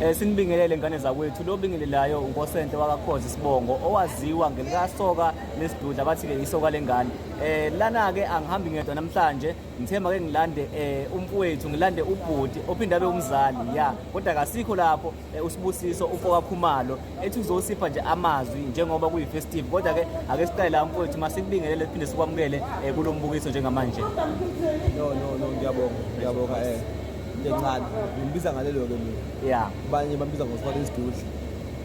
Eh, sinibingelele ngane zakwethu lo bingelelayo unkosente wakakhoza isibongo owaziwa ngelikasoka lesidudla bathi-ke isoka lengane eh lana-ke angihambi ngedwa namhlanje ngithemba ke ngilande eh umfowethu ngilande ubhuti ophinde abe umzali ya kodwa kasikho lapho eh, usibusiso umfoka khumalo ethi uzosipha nje amazwi njengoba kuyifestive kodwa ke ake siqale la mfowethu masikubingelele siphinde sikwamukele eh, kulo mbukiso njengamanje no no no ngiyabonga ngiyabonga eh into encane ngimbiza ngalelo ke mina yeah abanye bambiza ngosifaka isidudla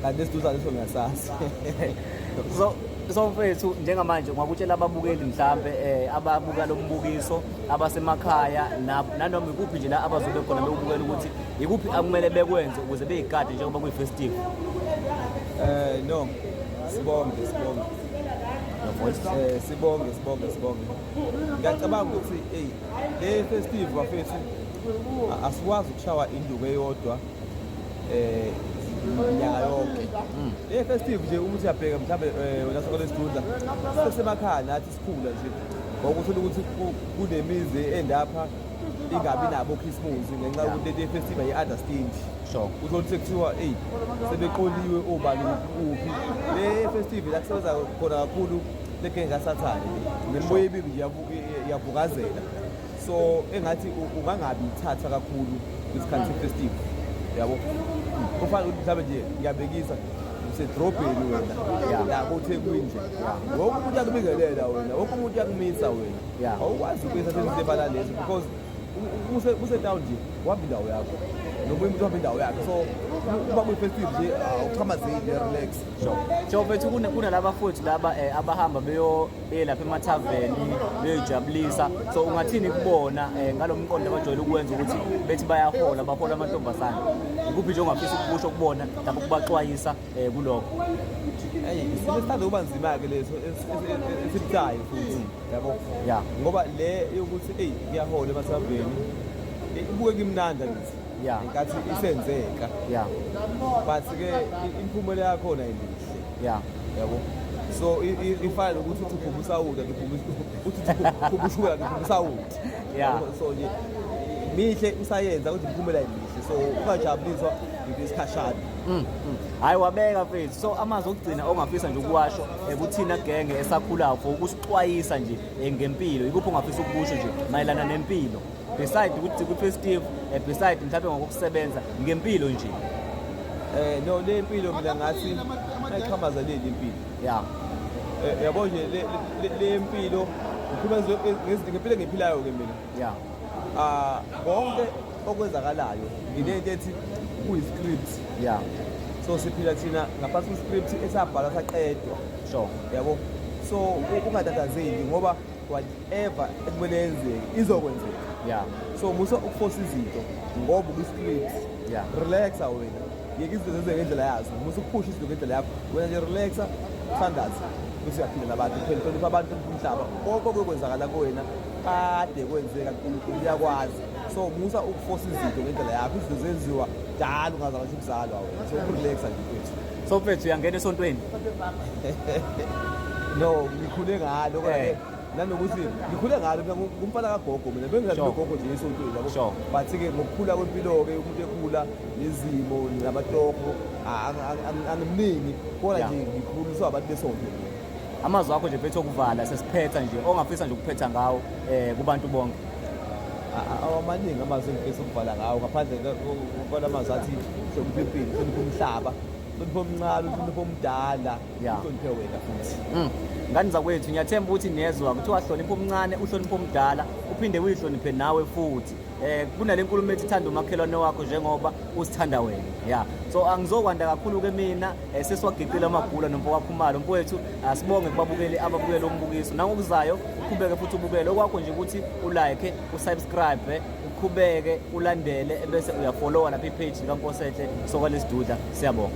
kanti esidudla leso ngiyasazi so so mfethu njengamanje ngwakutshela ababukeli mhlambe eh ababuka lombukiso abasemakhaya nanoma ikuphi nje la abazobe khona bewubukela ukuthi ikuphi akumele bekwenze ukuze beyigade njengoba kuyifestival eh no sibonge sibonge eh sibonge sibonge sibonge ngiyacabanga ukuthi eyi le festive bafethu asikwazi ukushawa induku eyodwa eh nyaka yonke mm. le festive nje uma uthi yabheka mhlawumbe eh, wena sokole sidudla sesemakhaya nathi sikhula nje ngokuthula ukuthi kunemizi endapha ingabi nabo okhisimuzi ngenxa yokuthi le festive yi-understand sure uthola ukuthi kuthiwa eyi sebeqoliwe obani uphi le festive la kusebenza khona kakhulu Leke kasathane nemiboya ebibi nje yavukazela so engathi ungangabi ithatha kakhulu isikhathi sefestival yabo kufanele ukuthi mhlawumbe nje ngiyabekisa usedrobheni wena yabo uthekwini nje wonke umuntu akubingelela wena wonke umuntu uyakumisa wena awukwazi ukumisa senzisebala lezi because usetown nje wahamba indawo yakho nomunye umuntu wahamba indawo yakhe so uba kwi-festive nje awuxhamazeli relax Jofethu kunalaba futhi laba eh, abahamba beyelapha emathaveni beyoyijabulisa so ungathini kubona eh, ngalo mqondo abajwayele ukwenza ukuthi bethi bayahola bahola amantombazane ikuphi nje ongafisa ukukusho kubona lapho ukubaxwayisa eh, kulokho eyi isimo esithanda ukuba nzima-ke leso esibucayo futhi mm. yabo ya ngoba le yokuthi eyi kuyahola emathaveni ibuke kimnanda kithi Yeah. ngenkathi isenzeka Yeah. but ke i- imiphumela yakhona imihle Yeah. yabo so i- i- ifana nokuthi uthi uphuma usawuda uphuma uthi uphuma ushukela uphuma usawuda Yeah. Yabo? so nje mihle usayenza kodwa imiphumela imihle so ungajabuliswa into esikhashana Mm, mm. Hayi wabeka mfethu. So amazwi okugcina ongafisa nje ukuwasho eh, kuthina genge esakhulayo for ukusixwayisa nje eh, ngempilo. Ikuphi ongafisa ukusho nje mayelana nempilo? beside ukuthi kuthiwe Steve eh, beside mhlawumbe ngokusebenza ngempilo nje eh no le impilo mina ngathi ayiqhamaza le impilo yeah eh, yabo nje le impilo ngikhuluma ngezinto ngempilo engiphilayo ke mina yeah ah konke okwenzakalayo ngilento ethi kuyi script yeah so siphila thina ngaphansi kwe script esabhala saqedwa sure yabo so ungatatazeli ngoba whatever ekumele yenzeke izokwenzeka yeah so musa ukufosa izinto ngoba ukwi-script yeah relaxa wena yeke izinto zenzeke ngendlela yazo musa ukuphusha izinto ngendlela yakho wena nje relaxa uthandaza bese uyaphindela abantu phela hlonipha abantu umhlaba konke okwenzakala kuwena kade kwenzeka nkulunkulu uyakwazi so musa ukufosa izinto ngendlela yakho izinto zenziwa dala ungazangasho ukuzalwa wena so ukurelaxa nje kwethu So mfethu uyangena esontweni? No, ngikhule ngalo kodwa Eh. nanokuthi ngikhule ngalo mina ngu- ngumfana kagogo mina bengizali Sure. nogogo nje esontweni yabo. Sure. But ke ngokukhula kwempilo-ke umuntu ekhula nezimo namatoho a- a- a- angimningi kodwa Yeah. nje ngikhuliswa abantu besonto. Amazwi akho nje mfethu okuvala sesiphetha nje ongafisa nje ukuphetha ngawo eh kubantu bonke. awamaningi amazwi engifisa ukuvala ngawo ngaphandle kona mazwi athi hlonipha impilo hlonipha umhlaba hlonipha omncane uhlonipha omdala uhloniphe wena futhi mm. ngani zakwethu ngiyathemba ukuthi niyezwa kuthiwa hlonipha omncane uhlonipha omdala uphinde uyihloniphe nawe futhi eh kunale nkulumo ethi thanda umakhelwane wakho njengoba usithanda wena ya so angizokwanda kakhulu ke mina Eh, sesiwagiqile amagula nomfo wakhumalo mfo wethu asibonge kubabukeli ababukele umbukiso nangokuzayo uqhubeke futhi ubukele okwakho nje ukuthi ulike usubscribe uqhubeke ulandele bese uyafollowa lapha ipage likankosehle sokwalesiduda siyabonga